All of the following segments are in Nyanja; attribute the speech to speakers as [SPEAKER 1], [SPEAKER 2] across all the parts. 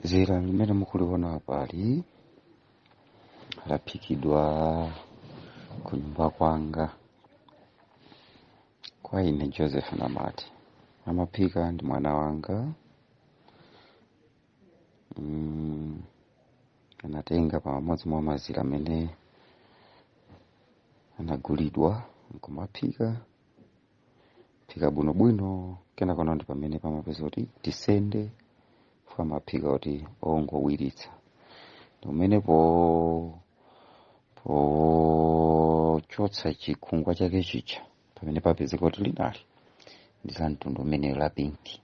[SPEAKER 1] zira limene mukuliona apali laphikidwa ku nyumba kwanga kwa ine joseph namati amaphika ndi mwana wanga mm, anatenga pamodzi mwa mazira amene anagulidwa nkumaphika phika bwinobwino kenakonadi pamene pamapeza kuti tisende paja amaphika kuti ongowiritsa ndimene po pochotsa chikhungwa chake chija pamene papezeka kuti linali ndi la mtundu umenewo la pinki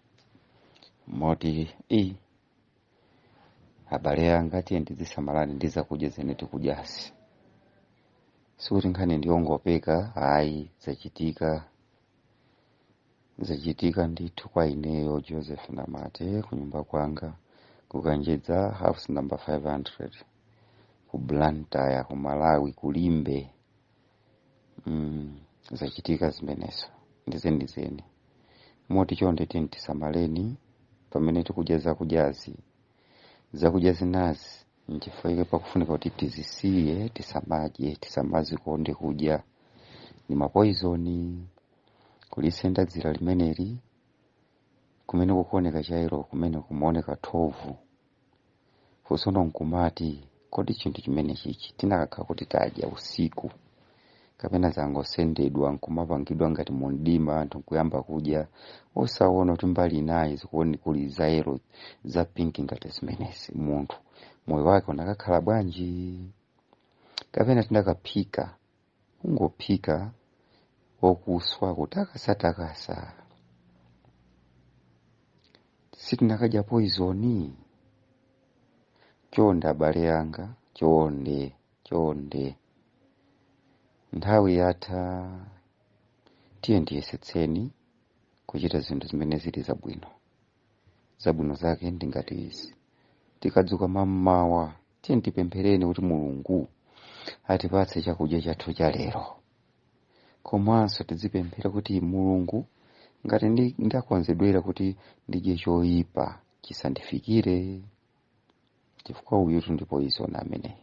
[SPEAKER 1] moti i abale anga tiyeni tidzisamalani ndi zakudya zimene tikudyazi sikuti nkhani ndiyongopeka ayi zachitika zachitika ndithu kwa ineyo joseph namati kunyumba kwanga kukanjedza house number 500 ku blantyre ku malawi kulimbe mm, zachitika zimenezo ndi zenizeni moti chonde tiyeni tisamaleni pamene tikudya zakudyazi zakudya zinazi nchifukwa chake pakufunika kuti tizisiye tisamadye tisamazikonde kudya ni mapoizoni kulisenda dzira limeneli kumene kukuoneka cha yellow kumene kumaoneka thovu funso no nkumati kodi chinthu chimenechichi tinakakhala kuti tadya usiku kapena zangosendedwa nkumapangidwa ngati mumdima anthu nkuyamba kudya osaona kuti mbali inayi zikuone kuli za yellow za pinki ngati zimenezi munthu moyo wake unakakhala bwanji kapena tinakaphika kungophika okuswa kutakasa-takasa sitinakadya poizoni chonde abale anga chonde chonde nthawi yatha tiyeni tiyesetseni kuchita zinthu zimene zili zabwino zabwino zake ndi ngati izi tikadzuka mammawa tiyeni tipemphereni kuti mulungu atipatse chakudya chathu cha lero komanso tizipemphera kuti mulungu ngati ndi- ndakonzedwera kuti ndidye choyipa chisandifikire chifukwa uyutu ndi poyizoni ameneyi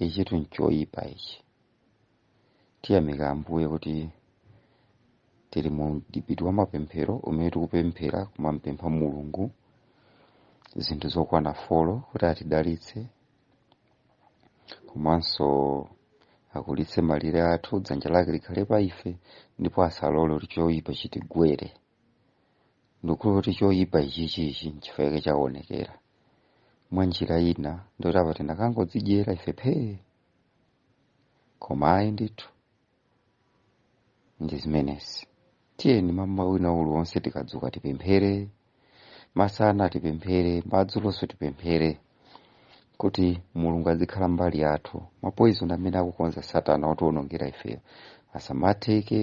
[SPEAKER 1] ichitu nchoyipa ichi tiyamika ambuye kuti tili mu mdipiti wa mapemphero umene tikupemphera kumampempha mulungu zinthu zokwana folo kuti atidalitse komanso akulitse malire athu dzanja lake likhale pa ife ndipo asalole kuti choyipa chitigwere ndikukhulupirira kuti choyipa ichichichi nchifukwa chake chaonekera mwa njira ina ndoti apa tinakangodzidyera ife phee koma ayi ndithu ndi zimenezi tiyeni mmawa wina uliwonse tikadzuka tipemphere masana tipemphere madzulonso tipemphere kuti mulungu azikhala mbali yathu mapoizoni amene akukonza satana otionongera ifeyo asamatheke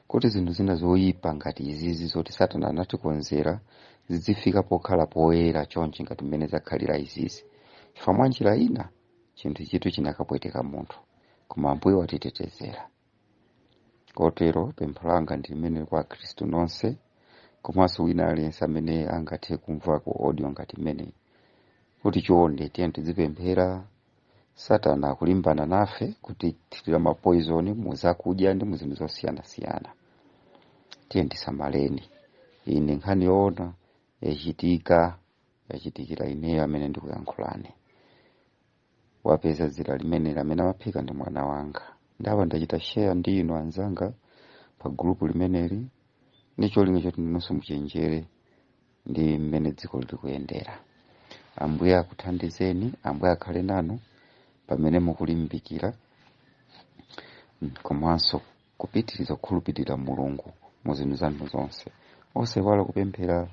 [SPEAKER 1] kuti zinthu zina zoyipa ngati izizi zoti satana anatikonzera zidzifika pokhala poyera chonchi ngati mmene zakhalira izizi chifukwa mwa njira ina chinthuchitu chinakapweteka munthu koma ambuye watitetezera kotero pempho langa ndi limeneli kwa akhristu nonse komanso wina aliyense amene angathe kumva ku audio ngati imeneyi kuti chonde tiyeni tidzipemphera satana akulimbana nafe kutithirira mapoizoni mu zakudya ndi mu zinthu zosiyanasiyana tiyeni tisamaleni ine nkhani yoona yachitika yachitikira ineyo amene ndikuyankhulani wapeza dzira limeneli amene amaphika ndi mwana wanga ndiye pano ndachita sheya ndi inu anzanga pa gulupu limeneli ndi cholinga choti ndinonso muchenjere ndi mmene dziko likuyendera ambuye akuthandizeni ambuye akhale nanu pamene mukulimbikira mm, komanso kupitiriza kukhulupirira mulungu mu zinthu zanu zonse osaiwala kupemphera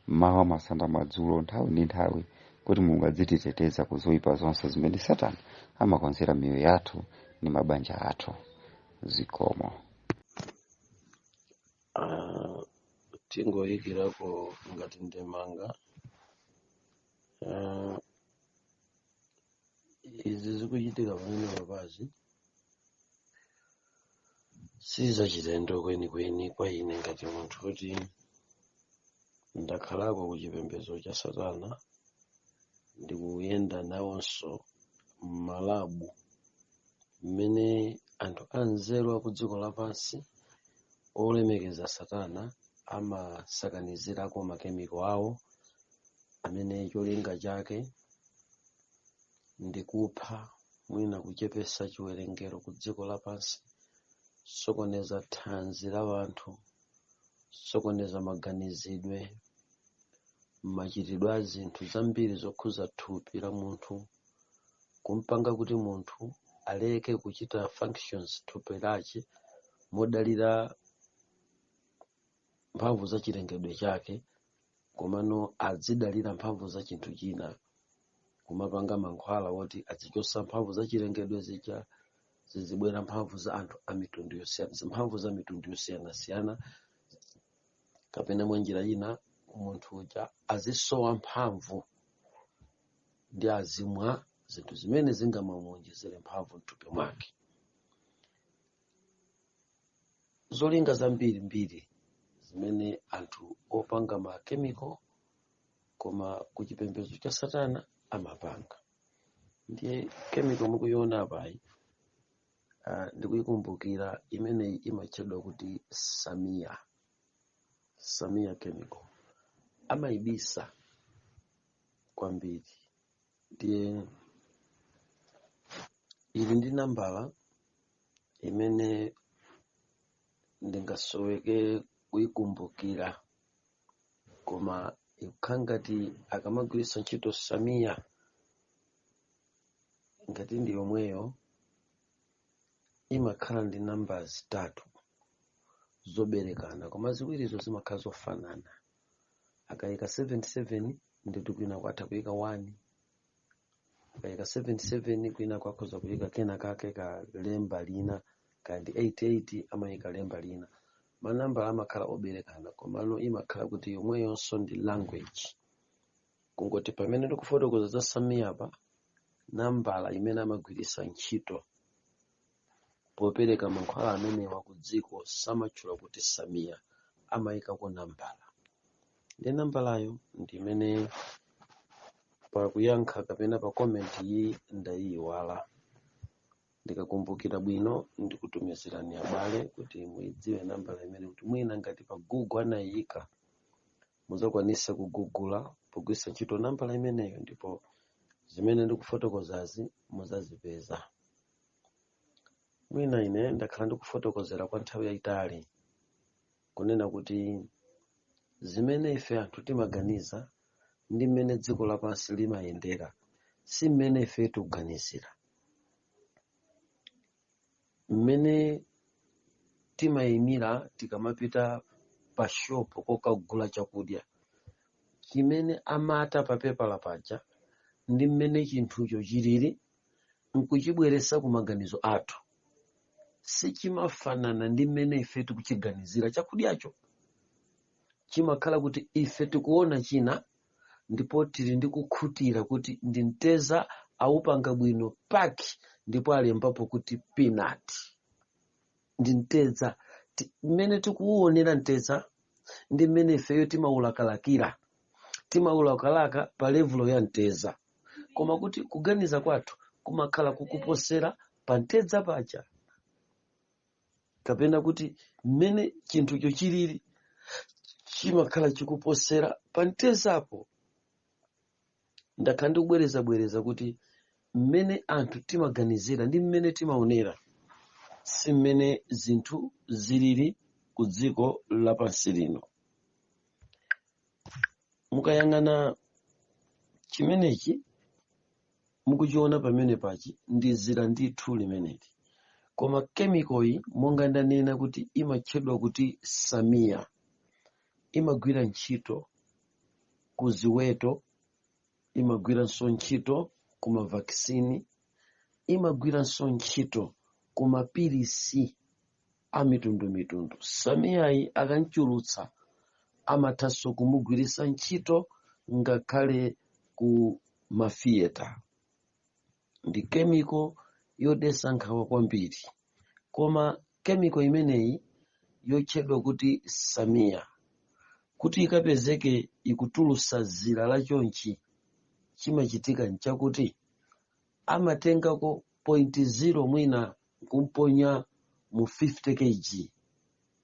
[SPEAKER 1] mmawa masana madzulo nthawi ndi nthawi kuti mulungu adzititeteza ku zoyipa zonse zimene satana amakonzera miyoyo yathu ndi mabanja athu zikomo
[SPEAKER 2] Ah, tingoyikirako ngati ndemanga Ah, izi zikuchitika pamenepazi sizachilendo kwenikweni kwa ine ngati munthu kuti ndakhalako ku chipembedzo cha satana ndikuyenda nawonso m'malabu mmene anthu anzeru a ku dziko lapansi olemekeza Satana amasakanizirako makemiko awo amene cholinga chake ndi kupha mwina kuchepesa chiwerengero ku dziko lapansi, sokoneza thanzi la wanthu, sokoneza maganizidwe, machitidwe a zinthu zambiri zokhuza thupi la munthu, kumpanga kuti munthu aleke kuchita functions thupi lache modalira mphamvu za chilengedwe chake komano adzidalira mphamvu za chinthu china kumapanga mankhwala woti azichosa mphamvu za chilengedwe zija zizibwera mphamvu za anthu a mitundu yosiyana mphamvu za mitundu yosiyanasiyana kapena mwa njira ina munthu uja azisowa mphamvu ndi azimwa zinthu zimene zingamamuonjezere mphamvu mthupi mwake zolinga zambirimbiri zimene anthu opanga makemiko koma ku chipembedzo cha satana amapanga ndiye kemiko mukuiona apayi uh, ndikuikumbukira imeneyi imatchedwa kuti samia samia chemical amaibisa kwambiri ndiye ili ndi nambala imene ndingasoweke kuikumbukira koma ikukhala ngati akamagwiritsa ntchito samiya ngati ndi yomweyo imakhala ndi nambala zitatu zoberekana koma ziwirizo zimakhala zofanana akayika 77 ndikuti kwinaku atha kuyika 1 akayika 77 kwinaku akhoza kuyika kena kake ka lemba lina kaya ndi 88 amayika lemba lina manambala amakhala oberekana komano imakhala kuti yomweyonso ndi language kungoti pamene ndikufotokoza za samiya pa nambala imene amagwiritsa ntchito popereka mankhwala amenewa ku dziko samatchula kuti samiya amayikako nambala ndi nambalayo ndi imene pakuyankha kapena pa komenti ndayiyiwala ndikakumbukira bwino ndikutumizirani abale kuti muyidziwe nambala imene kuti mwina ngati pa google anayiyika muzakwanisa kugugula pogwiritsa ntchito nambala imeneyo ndipo zimene ndikufotokozazi muzazipeza mwina ine ndakhala ndikufotokozera kwa nthawi yayitali kunena kuti zimene ife anthu timaganiza ndi mmene dziko lapansi limayendera si mmene ife tikuganizira mmene timayimira tikamapita pa shopu kokagula chakudya chimene amata pa pepala paja ndi mmene chinthucho chilili nkuchibweretsa ku maganizo athu sichimafanana ndi mmene ife tikuchiganizira chakudyacho chimakhala kuti ife tikuona china ndipo tili ndi kukhutira kuti ndi mtedza awupanga bwino paki ndipo alembapo kuti peanut ndi mtedza mmene tikuwuonera mtedza ndi mmene ifeyo timawulakalakira timawulakalaka pa levulo ya mtedza koma kuti kuganiza kwathu kumakhala kukuposera pa mtedza paja kapena kuti mmene chinthucho chilili chimakhala chikuposera pa mtedzapo ndakhala ndikubwerezabwereza kuti mmene anthu timaganizira ndi mmene timaonera si mmene zinthu zilili ku dziko lapansi lino mukayang'ana chimenechi mukuchiona pamenepachi ndi zira ndithu limeneli koma kemikoyi monga ndanena kuti imatchedwa kuti samiya imagwira ntchito ku ziweto imagwiranso ntchito ku mavakisini imagwiranso ntchito ku mapilisi a mitundumitundu samiyayi akamchulutsa amathanso kumugwiritsa ntchito ngakhale ku mafiyeta ndi kemiko yodetsa nkhawa kwambiri koma kemiko imeneyi yotchedwa kuti samiya kuti ikapezeke ikutulusa zira la chonchi chimachitika nchakuti amatengako point zero mwina kumponya mu 50 kg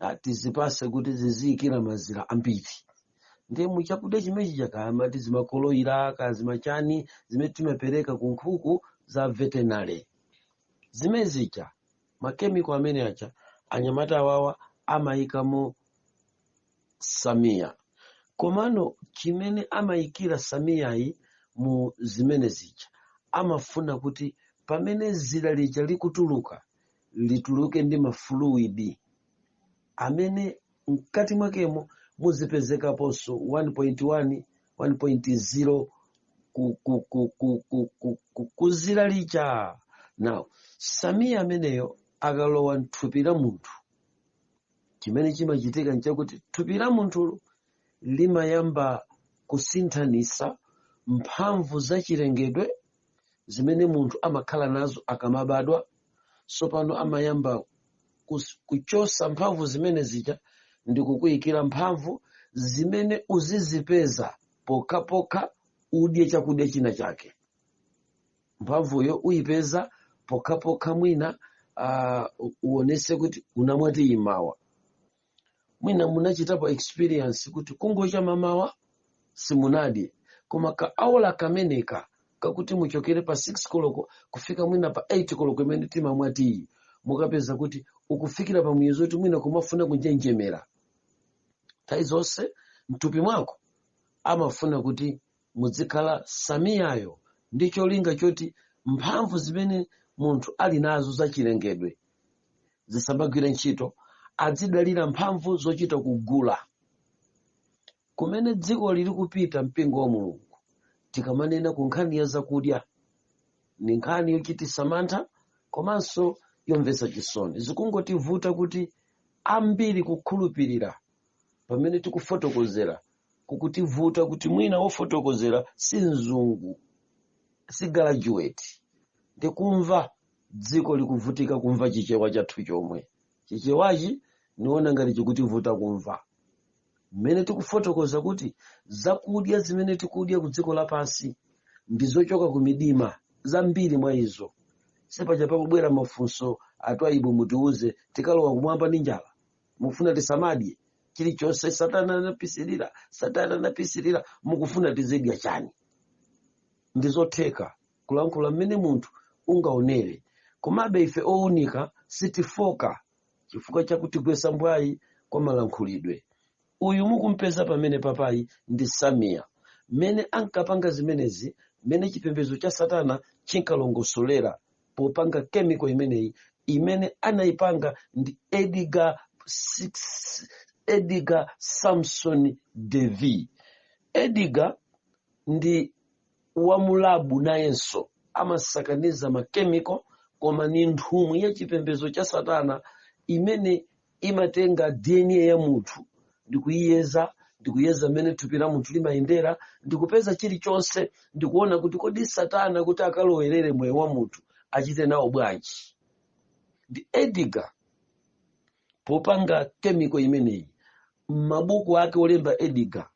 [SPEAKER 2] ah, tizipase kuti ziziyikira mazira ambiri ndiye mu chakudya chimene chija kaya amati zimakoloyira ka zimachani zimene timapereka ku nkhuku za veterinary zimene zija makemiko amene aja anyamata awawa amayikamo samiya komano chimene amayikira samiyayi mu zimene zija amafuna kuti pamene zira lija likutuluka lituluke ndi mafuluidi amene mkati mwakemo muzipezekaponso 1.1 1.0 ku zira lija now samiya ameneyo akalowa mthupi la munthu chimene chimachitika nchakuti thupi la munthu limayamba kusinthanisa mphamvu za chilengedwe zimene munthu amakhala nazo akamabadwa tsopano amayamba kus- kuchosa mphamvu zimene zija ndi kukuyikira mphamvu zimene uzizipeza pokhapokha udye chakudya china chake mphamvuyo uyipeza pokhapokha mwina uh, uonese kuti unamwa tiyi mmawa mwina munachitapo experience kuti kungocha mamawa simunadye koma ka awala kameneka kakuti muchokere pa 6 koloko kufika mwina pa 8 koloko imene timamwa tiyi mukapeza kuti ukufikira pa muyezo kuti mwina kumafuna kunjenjemera nthawi zonse mthupi mwako amafuna kuti mudzikhala samiyayo ndi cholinga choti mphamvu zimene munthu ali nazo zachilengedwe zisambagwire ntchito adzidalira mphamvu zochita kugula kumene dziko lili kupita mpingo wa mulungu tikamanena ku nkhani ya zakudya ni nkhani yochitisa mantha komanso yomvetsa chisoni zikungotivuta kuti ambiri kukhulupirira pamene tikufotokozera kukutivuta kuti mwina wofotokozera si mzungu si graduate ndikumva dziko likuvutika kumva chichewa chathu chomwe chichewachi niona ngati chikutivuta kumva mmene tikufotokoza kuti zakudya zimene tikudya ku dziko lapansi ndi zochoka ku midima zambiri mwa izo sipaja pakubwera mafunso a Twaibu mutiuze tikalowa kumwamba ndi njala mukufuna tisamadye chilichonse satana anapisirira satana anapisirira mukufuna tizidya chani ndi zotheka kulankhula mmene munthu ungaonere komabe ife ounika sitifoka chifukwa chakutigwesa mbwayi kwa malankhulidwe uyu mukumpeza pamene papayi ndi samiya mmene ankapanga zimenezi mmene chipembedzo cha satana chinkalongosolera popanga kemiko imeneyi imene anayipanga ndi edgar samson davy edgar ndi wamulabu nayenso amasakaniza makemiko koma ni nthumwi ya chipembedzo cha satana imene imatenga dna ya munthu ndikuyiyeza ndikuyeza mmene thupi la munthu limayendera ndikupeza chilichonse ndikuona kuti kodi satana kuti akalowerere moyo wa munthu achite nawo bwanji ndi edgar popanga kemiko imeneyi m'mabuku ake olemba edgar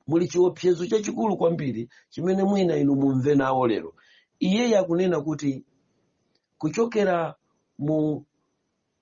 [SPEAKER 2] muli chiopsezo chachikulu kwambiri chimene mwina inu mumve nawo lero iyeyi akunena kuti kuchokera mu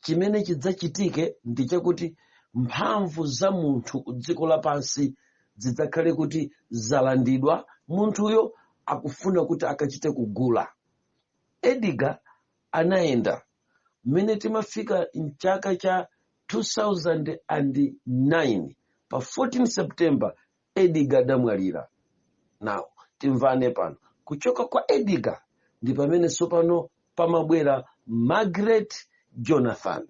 [SPEAKER 2] chimene chidzachitike ndi chakuti mphamvu za munthu ku dziko lapansi zidzakhale kuti zalandidwa munthuyo akufuna kuti akachite kugula ediga anayenda mmene timafika mchaka cha 2009 pa 14 september ediga adamwalira now timvane pano kuchoka kwa ediga ndi pamene tsopano pamabwera margaret jonathan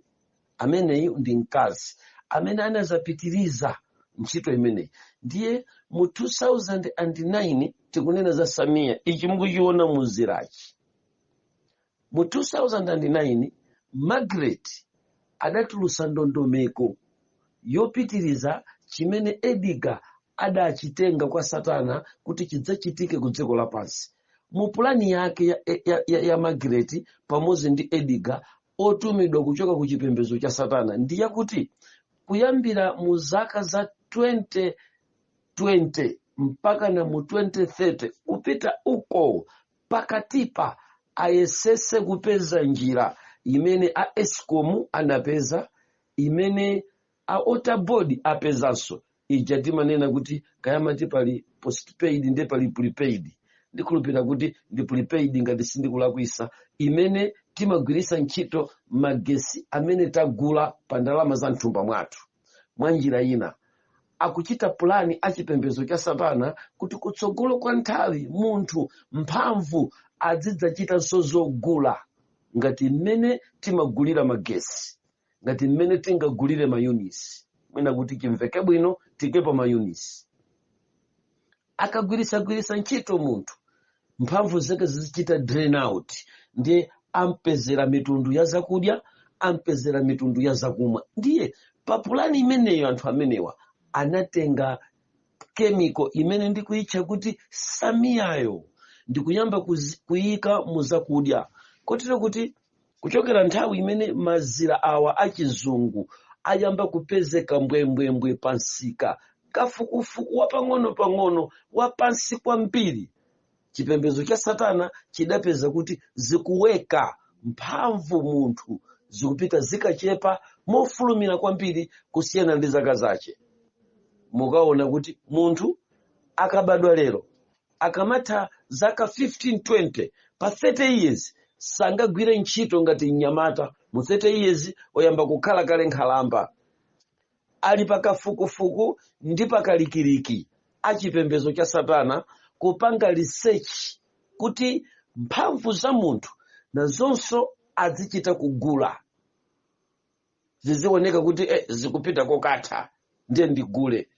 [SPEAKER 2] ameneyi ndi mkazi amene anazapitiriza ntchito imeneyi ndiye mu 2009 tikunena za samiya ichi mukuchiona muzirachi Mu 2009, Margaret adatulutsa ndondomeko yopitiriza chimene Edgar adachitenga kwa Satana kuti chidzachitike ku dziko lapansi. Mu pulani yake ya Margaret pamodzi ndi Edgar otumidwa kuchoka ku chipembedzo cha Satana ndi yakuti kuyambira mu zaka za 2020 mpaka na mu 2030 kupita uko Pakatipa ayesetse kupeza njira imene a escom anapeza, imene a water board apezanso, ija timanena kuti kaya amati pali postpaid ndi pali prepaid, ndikhulupirira kuti ndi prepaid ngati sindikulakwitsa, imene timagwiritsa ntchito magetsi amene tagula pa ndalama za m'thumba mwathu. mwa njira ina akuchita pulani achipembedzo cha satana kuti kutsogolo kwa nthawi munthu mphamvu azidzachitanso zogula ngati mmene timagulira magesi ngati mmene tingagulire mayunisi mwina kuti chimveke bwino tiikepo mayunisi akagwiritsagwiritsa ntchito munthu mphamvu zake zizichita drain out ndiye ampezera mitundu ya zakudya ampezera mitundu ya zakumwa ndiye pa pulani imeneyo anthu amenewa anatenga kemiko imene ndikuyitcha kuti samiyayo ndikuyamba kuyika mu zakudya kotero kuti kuchokera nthawi imene mazira awa achizungu ayamba kupezeka mbwembwembwe pa msika kafukufuku wapang'ono-pang'ono wapansi kwambiri chipembedzo cha satana chidapeza kuti zikutheka mphamvu munthu zikupita zikachepa mofulumira kwambiri kusiyana ndi zaka zache mukaona kuti munthu akabadwa lero akamatha zaka 15 20 pa 30 years sangagwire ntchito ngati mnyamata mu 30 years oyamba kukhala kale nkhalamba ali pakafukufuku ndi pakalikiliki achipembedzo cha satana kupanga research kuti mphamvu za munthu nazonso adzichita kugula zizioneka kuti zikupita kokatha ndiye ndigule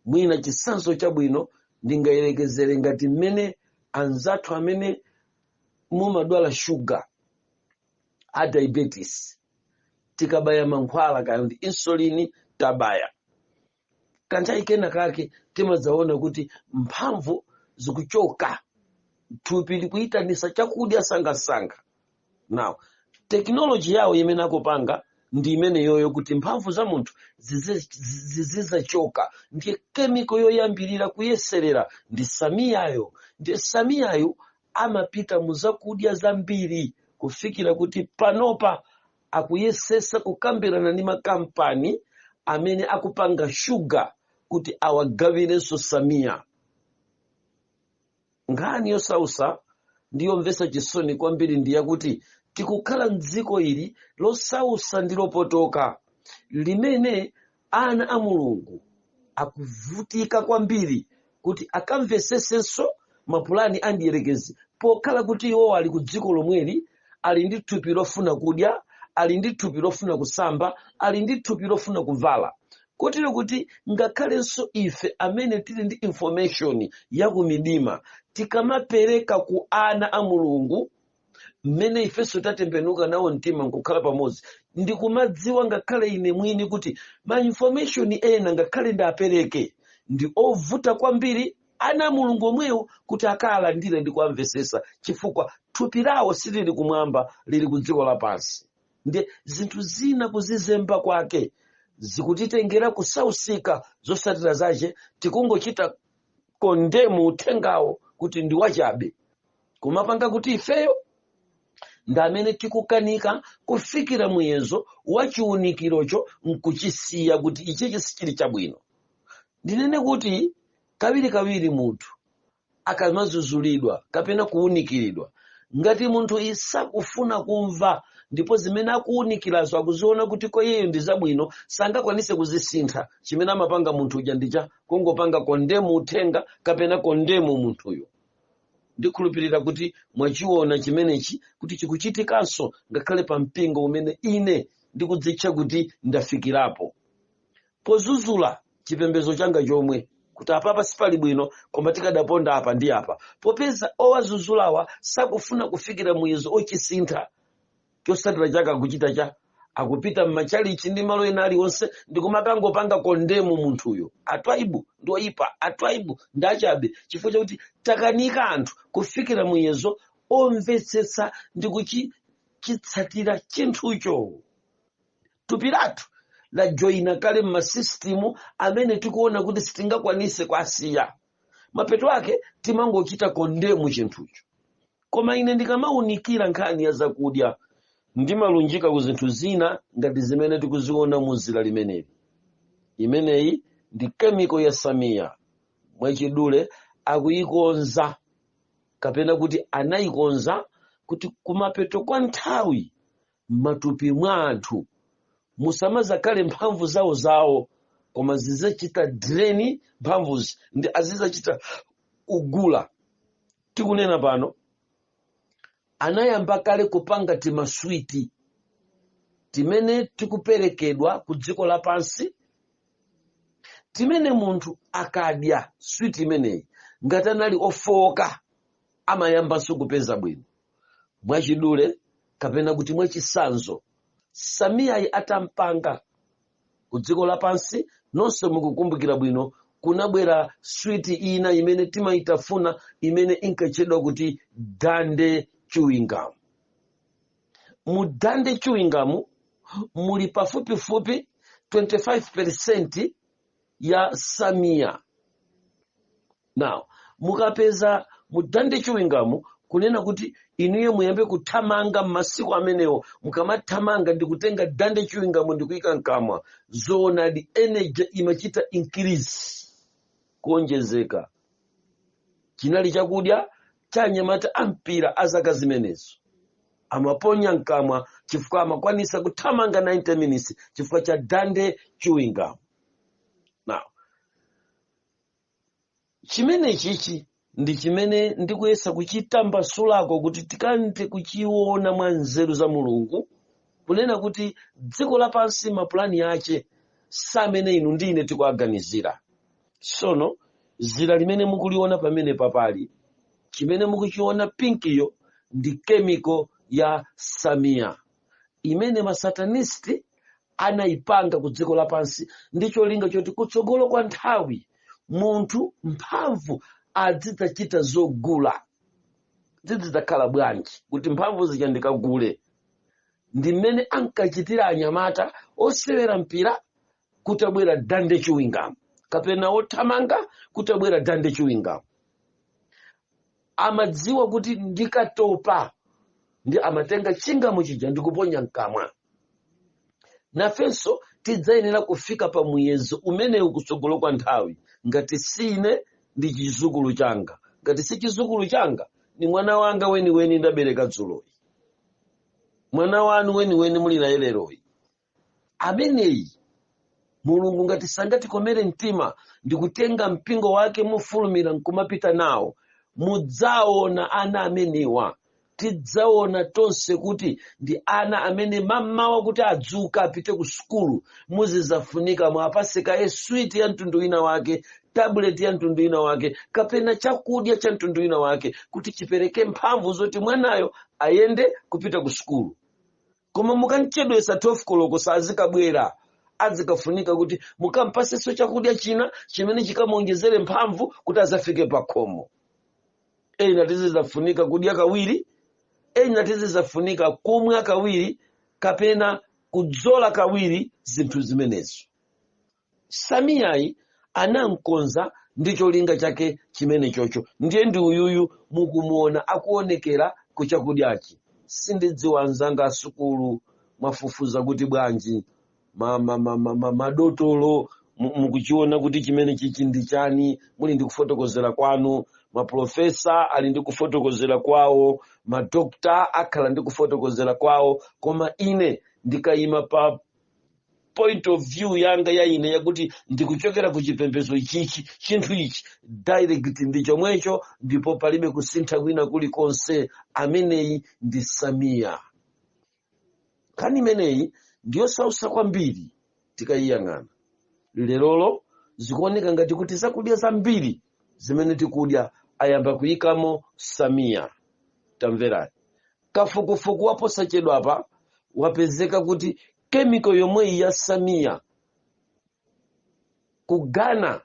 [SPEAKER 2] mwina chitsanzo chabwino ndingayerekezere ngati mmene anzathu amene mumadwala shuga a diabetes tikabaya mankhwala kaya ndi insulini tabaya kanthawi kena kake timadzaona kuti mphamvu zikuchoka thupi likuyitanisa chakudya msangamsanga now tekinoloji yawo imene akupanga ndi imeneyoyo kuti mphamvu za munthu zizidzachoka ndiye kemiko yoyambirira kuyeserera ndi samiyayo ndiye samiyayo amapita mu zakudya zambiri kufikira kuti panopa akuyesetsa kukambirana ndi makampani amene akupanga shuga kuti awagawirenso samiya nkhani yosautsa ndi yomvetsa chisoni kwambiri ndi yakuti tikukhala mdziko ili losautsa ndi lopotoka limene Ana a Mulungu akuvutika kwambiri kuti akamvetsetsenso mapulani a mdierekezi pokhala kuti iwowo ali ku dziko lomweli ali ndi thupi lofuna kudya ali ndi thupi lofuna kusamba ali ndi thupi lofuna kuvala kotero kuti ngakhalenso ife amene tili ndi information ya kumidima tikamapereka ku ana a mulungu mmene ifenso tatembenuka nawo mtima nkukhala pamodzi ndimadziwa ngakhale ine mwini kuti ma information ena ngakhale ndiapereke ndi ovuta kwambiri ana a mulungu omwewo kuti akaalandire ndi kuamvetsetsa chifukwa thupi lawo silili kumwamba lili ku dziko lapansi ndiye zinthu zina kuzizemba kwake zikutitengera kusausika zotsatira zache tikungochita condemn uthengawo kuti ndi wachabe kumapanga kuti ifeyo ndi amene tikukanika kufikira muyezo wa chiunikirocho nkuchisiya kuti ichichi sichili chabwino ndinene kuti kawirikawiri munthu akamadzudzulidwa kapena kuunikiridwa ngati munthu sakufuna kumva ndipo zimene akuunikirazo akuziona kuti kwa iyeyo ndi zabwino sangakwanitse kuzisintha chimene amapanga munthu uja ndicha kungopanga condemn uthenga kapena condemn munthuyo ndikhulupirira kuti mwachiona chimenechi kuti chikuchitikanso ngakhale pa mpingo umene ine ndikudzitcha kuti ndafikirapo pozuzula chipembedzo changa chomwe kuti apapa sipali bwino koma tikadaponda apa ndi apa popeza owazuzulawa sakufuna kufikira muyezo ochisintha chosatira chake akuchita chani akupita m'machalichi ndi malo ena aliwonse ndikumakangopanga kondemu munthuyo atwaibu ndi oyipa atwaibu ndi achabe chifukwa chakuti takanika anthu kufikira muyezo omvetsetsa ndi kuchitsatira chinthucho thupi lathu lajoyina kale m'masisitimu amene tikuona kuti sitingakwanise kuwasiya mapeto ake timangochita kondemu chinthucho koma ine ndikamaunikira nkhani ya zakudya ndimalunjika ku zinthu zina ngati zimene tikuziona mu zira limeneli imeneyi ndi kemiko ya samiya mwachidule akuyikonza kapena kuti anayikonza kuti kumapeto kwa nthawi m'matupi mwa anthu musamazakhale mphamvu zawo zawo koma zizizachita direni mphamvuzi ndi azizachita kugula tikunena pano anayamba kale kupanga timaswiti timene tikuperekedwa ku dziko lapansi timene munthu akadya switi imeneyi ngati anali ofowoka amayambanso kupeza bwino mwachidule kapena kuti mwachisanzo samiyayi atampanga ku dziko lapansi nonse mukukumbukira bwino kunabwera switi ina imene timayitafuna imene inkatchedwa kuti dande chiwingamu mu dande chiwingamu muli pafupifupi 25 percent ya samiya now mukapeza mu dande chiwingamu kunena kuti inuyo muyambe kuthamanga m'masiku amenewo mukamathamanga ndikutenga dande chiwingamu ndikuyika mkamwa zoonadi energy imachita increase kuonjezeka chinali chakudya cha anyamata ampira a zaka zimenezo amaponya mkamwa chifukwa amakwanisa kuthamanga 90 minutes chifukwa cha dande chiwingamu now chimene chichi ndi chimene ndikuyesa kuchitambasulako kuti tikathe kuchiona mwa nzeru za mulungu kunena kuti dziko lapansi mapulani ake si amene inu ndi ine tikuaganizira sono zira limene mukuliona pamene apali chimene mukuchiona pinkiyo ndi kemiko ya samiya imene masatanisti anaipanga ku dziko lapansi ndi cholinga choti kutsogolo kwa nthawi munthu mphamvu azidzachita zogula zizidzakhala bwanji kuti mphamvu zija ndikagule ndi mmene ankachitira anyamata osewera mpira kutabwera dande chewing gum kapena othamanga kutabwera dande chewing gum amadziwa kuti ndikatopa ndi amatenga chingamo chija ndikuponya mkamwa nafenso tidzayenera kufika pa muyezo umenewu kutsogolo kwa nthawi ngati si ine ndi chizukulu changa ngati si chizukulu changa ni mwana wanga weniweni ndabereka dzuloyi mwana wanu weniweni muli naye leroyi ameneyi mulungu ngati sangatikomere mtima ndikutenga mpingo wake mofulumira nkumapita nawo mudzaona ana amenewa tidzaona tonse kuti ndi ana amene mammawa kuti adzuka apite ku sukulu muzizafunika muwapase kaye switi ya mtundu wina wake tabuleti ya mtundu wina wake kapena chakudya cha mtundu wina wake kuti chipereke mphamvu zoti mwanayo ayende kupita ku sukulu koma mukamchedwesa 12 koloko sazikabwera azikafunika kuti mukampaseso chakudya china chimene chikamuonjezere mphamvu kuti azafike pakhomo ena tizizafunika kudya kawiri ena tizizafunika kumwa kawiri kapena kudzola kawiri zinthu zimenezi Samiyayi anamkonza ndi cholinga chake chimene chocho. Ndiye ndi uyuyu mukumuona akuonekera ku chakudyachi. Sindidziwa anzanga a sukulu mwafufuza kuti bwanji? Ma, ma, ma, ma, ma, madotolo mu- mukuchiona kuti chimene chichi ndi chani? Muli ndi kufotokozera kwanu. Mapulofesa ali ndi kufotokozera kwawo. Madokta akhala ndi kufotokozera kwawo. Koma ine ndikayima pa point of view yanga ya ine yakuti ndikuchokera ku chipembedzo ichichi chinthu ichi direct ndi chomwecho ndipo palibe kusintha kwina kulikonse ameneyi ndi samiya nkhani imeneyi ndiyosausa kwambiri tikayiyang'ana lerolo zikuoneka ngati kuti zakudya zambiri zimene tikudya ayamba kuyikamo samiya tamverani kafukufuku waposachedwapa wapezeka kuti kemiko yomweyi ya samiya ku ghana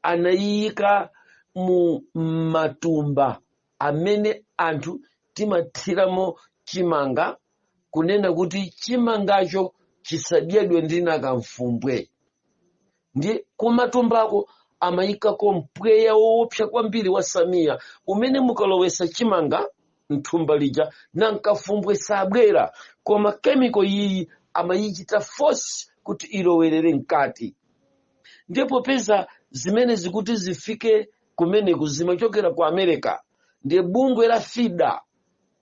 [SPEAKER 2] anayiyika mu matumba amene anthu timathiramo chimanga kunena kuti chimangacho chisadyedwe ndi nakamfumbwe ndi kumatumbako amayikako mpweya woopsa kwambiri wa samiya umene mukalowesa chimanga mthumba lija nankafumbwe sabwera koma kemiko iyi amayichita force kuti ilowerere mkati ndiye popeza zimenezi kuti zifike kumeneku zimachokera ku america ndiye bungwe la fida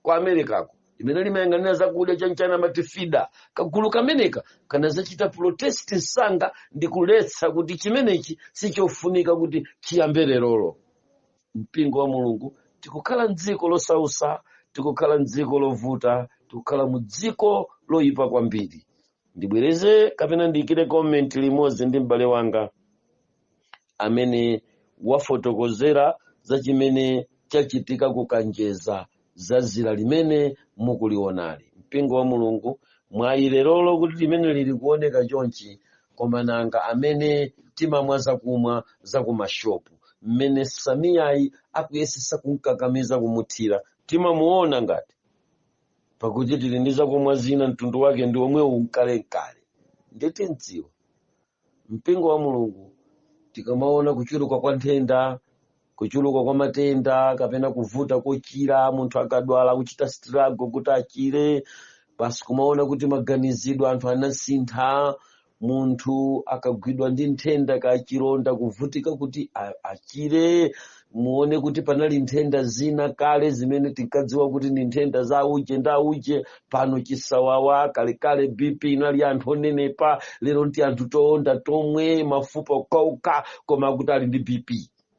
[SPEAKER 2] ku americako limene limayang'anira zakudya chanchana amati fida kagulu kameneka kanazachita protest msanga ndi kuletsa kuti chimenechi sichofunika kuti chiyambe lerolo mpingo wa mulungu tikukhala mdziko losausa tikukhala mdziko lovuta tikukhala mu dziko loyipa kwambiri ndibwereze kapena ndiyikire comment limodzi ndi m'bale wanga amene wafotokozera za chimene chachitika ku kanjeza za zira limene mukulionali mpingo wa mulungu mwayi lerolo kuti limene lili kuoneka chonchi koma nanga amene timamwa zakumwa za kumashopu mmene samiyayi akuyesesa kumkakamiza kumuthira timamuona ngati pakuti tili ndi zakumwa zina mtundu wake ndi omwewu nkalekale nditimdziwa mpingo wa mulungu tikamaona kuchuluka kwa nthenda kuchuluka kwa matenda kapena kuvuta kochira munthu akadwala kuchita struggle kuti achire basi kumaona kuti maganizidwe anthu anasintha munthu akagwidwa ndi nthenda kachilonda kuvutika kuti a- achire muone kuti panali nthenda zina kale zimene tinkadziwa kuti ndi nthenda za auje nda auje pano chisawawa kalekale bp inali ya anthu onenepa lero nti anthu toonda tomwe mafupa okauka koma akuti ali ndi bp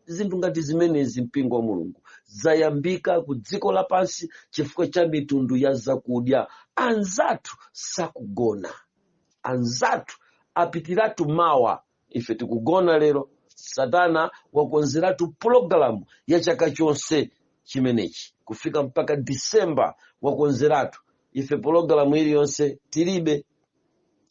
[SPEAKER 2] zinthu ngati zimenezi mpingo wa mulungu zayambika ku dziko lapansi chifukwa cha mitundu ya zakudya anzathu sakugona anzathu apitiratu mawa ife tikugona lero satana wakonzeratu pulogalamu ya chaka chonse chimenechi kufika mpaka disemba wakonzeratu ife pulogalamu iliyonse tilibe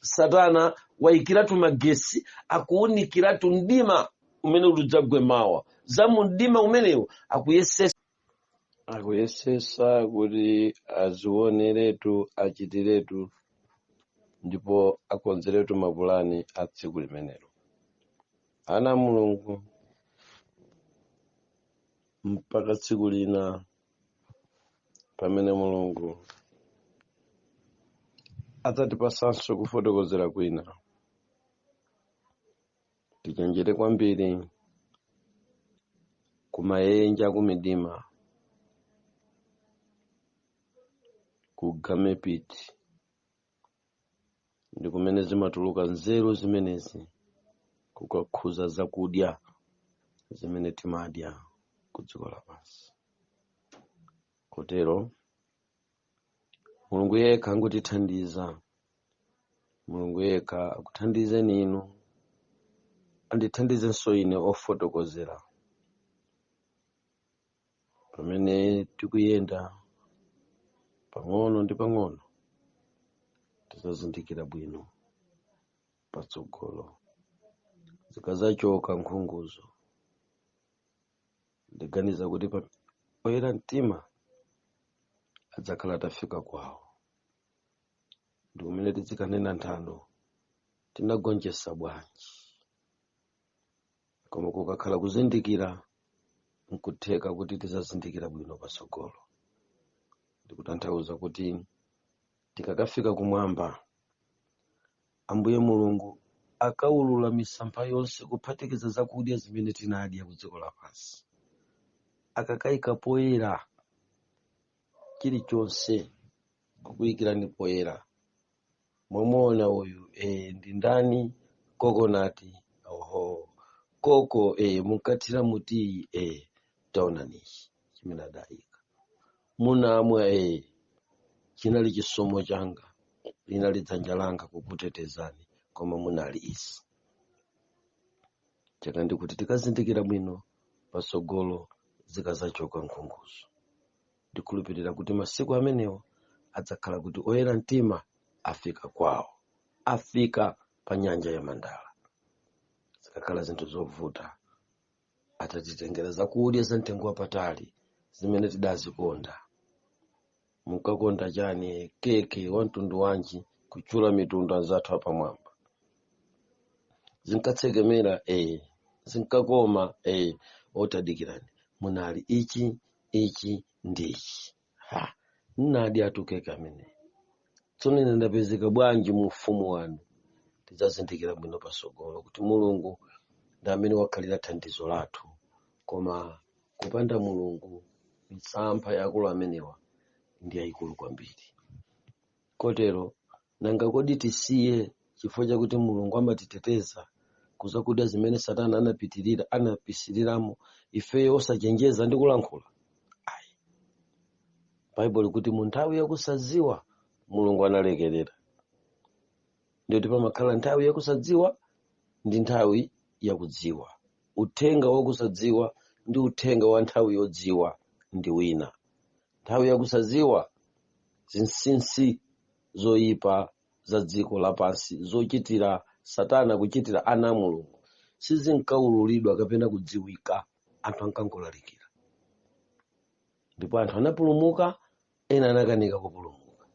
[SPEAKER 2] satana waikiratu magesi akuunikiratu mdima umene uli udzagwe mawa za mu mdima umenewu akuyesesa akuyesesa kuti azioneretu achitiretu ndipo akonzeretu mapulani a tsiku limenelo ana a mulungu mpaka tsiku lina pamene mulungu adzatipasanso kufotokozera kwina tichenjere kwambiri kumayenje a kumidima kugame pit ndi kumene zimatuluka nzeru zimenezi kukakhuza zakudya zimene timadya ku dziko lapansi kotero mulungu yekha angotithandiza mulungu yekha akuthandizeni inu andithandizenso ine wofotokozera pamene tikuyenda pang'ono ndi pang'ono tizazindikira bwino patsogolo zikazachoka nkhunguzo ndiganiza kuti oyera mtima adzakhala atafika kwawo ndi kumene tidzikanena nthano tinagonjetsa bwanji koma kukakhala kuzindikira nkutheka kuti tizazindikira bwino patsogolo ndikutanthauza kuti tikakafika kumwamba Ambuye Mulungu akaulula misampha yonse kuphatikiza zakudya zimene tinadya ku dziko lapansi, akakaika poyera chilichonse kukuikirani poyera mwamuona uyu e, ndi ndani kokonati oho koko e, munkathira mutiyi e, taonanichi chimene adaika munamwa ee chinali chisomo changa linali dzanja langa kukutetezani koma munali izi chaka ndikuti tikazindikira bwino patsogolo zikazachoka nkhunguzo ndikhulupirira kuti masiku amenewo adzakhala kuti oyera mtima afika kwawo afika pa nyanja ya mandala zikakhala zinthu zovuta atatitengera zakudya za mtengo wapatali zimene tidazikonda munkakonda chani keke wa mtundu wanji kutchula mitundu anzathu apamwamba zinkatsekemera eh zinkakoma eh otadikirani munali ichi ichi ndi ichi ha nnadi atukeke ameneyi tsono ine ndapezeka bwanji mu ufumu wanu tidzazindikira bwino pasogolo kuti mulungu ndi amene wakhalira thandizo lathu koma kupanda mulungu misampha ya akulu amenewa ndi yayikulu kwambiri kotero nanga kodi tisiye chifukwa chakuti mulungu amatiteteza kuzakudya zimene satana anapitirira anapisiliramo ifeyo osachenjeza ndi kulankhula ayi baibulo ikuti mu nthawi yakusadziwa mulungu analekerera ndikuti pamakhala nthawi yakusadziwa ndi nthawi yakudziwa uthenga wakusadziwa ndi uthenga wa nthawi yodziwa ndi wina nthawi yakusaziwa zinsinsi zoyipa za dziko lapansi zochitira satana kuchitira ana a mulungu sizinkaululidwa kapena kudziwika anthu ankangolalikira ndipo anthu anapulumuka ena anakanika kupulumuka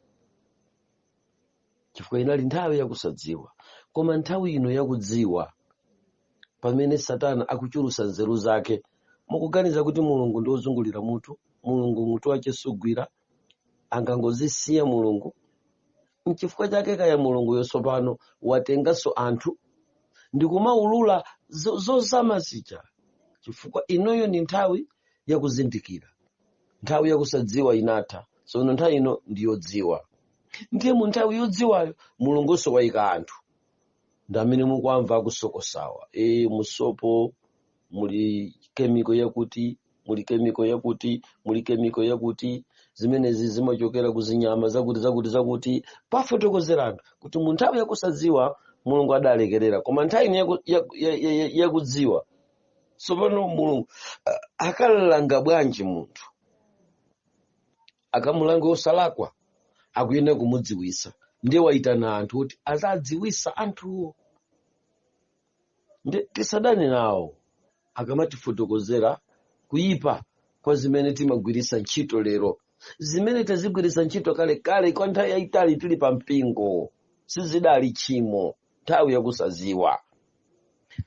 [SPEAKER 2] chifukwa inali nthawi yakusadziwa koma nthawi ino yakudziwa pamene satana akuchulusa nzeru zake mukuganiza kuti mulungu ndi wozungulira mutu mulungu mutu wake sugwira angangozisiya mulungu mchifukwa chake kaya mulunguyo tsopano watenganso anthu ndikumaulula zozama zija chifukwa inoyo ndi nthawi yakuzindikira nthawi yakusadziwa inatha sono nthawi ino ndiyodziwa ndiye mu nthawi yodziwayo mulungunso wayika anthu ndi amene mukuwamva akusokosawa e mu sopo muli kemiko yakuti muli kemiko yakuti muli kemiko yakuti zimenezi zimachokera ku zinyama zakuti zakuti zakuti kufotokozera anthu kuti mu nthawi yakusadziwa mulungu adalekerera koma nthawi ino yakudziwa tsopano mulungu akalanga bwanji munthu akamulanga osalakwa akuyenera kumudziwisa ndiye waitana anthu kuti azadziwisa anthuwo ndiye tisadane nawo akamatifotokozera kuyipa kwa zimene timagwiritsa ntchito lero zimene tazigwiritsa ntchito kale kale kwa nthawi yayitali tili pa mpingo sizidali tchimo nthawi yakusaziwa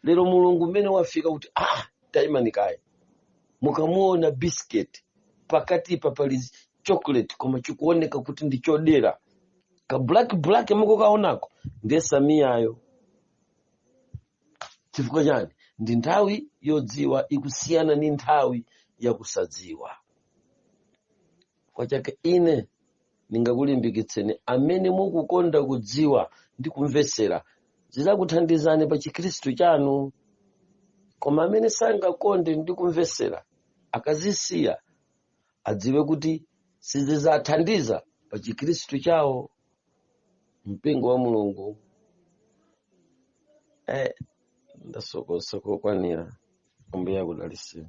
[SPEAKER 2] lero mulungu mmene wafika kuti ah tayimani kaye mukamuona biscuit pakatipa pali chocolate koma chikuoneka kuti ndi chodera ka black black mukukaonako ndiye shamiyayo chifukwa chani ndi nthawi yodziwa ikusiyana ndi nthawi yakusadziwa chifukwa chake ine ndingakulimbikitseni amene mukukonda kudziwa ndi kumvetsera zizakuthandizani pa chikhristu chanu koma amene sangakonde ndi kumvetsera akazisiya adziwe kuti sizizathandiza pa chikhristu chawo mpingo wa mulungu eh, ndasokosa kokwanira ambuye akudaliseni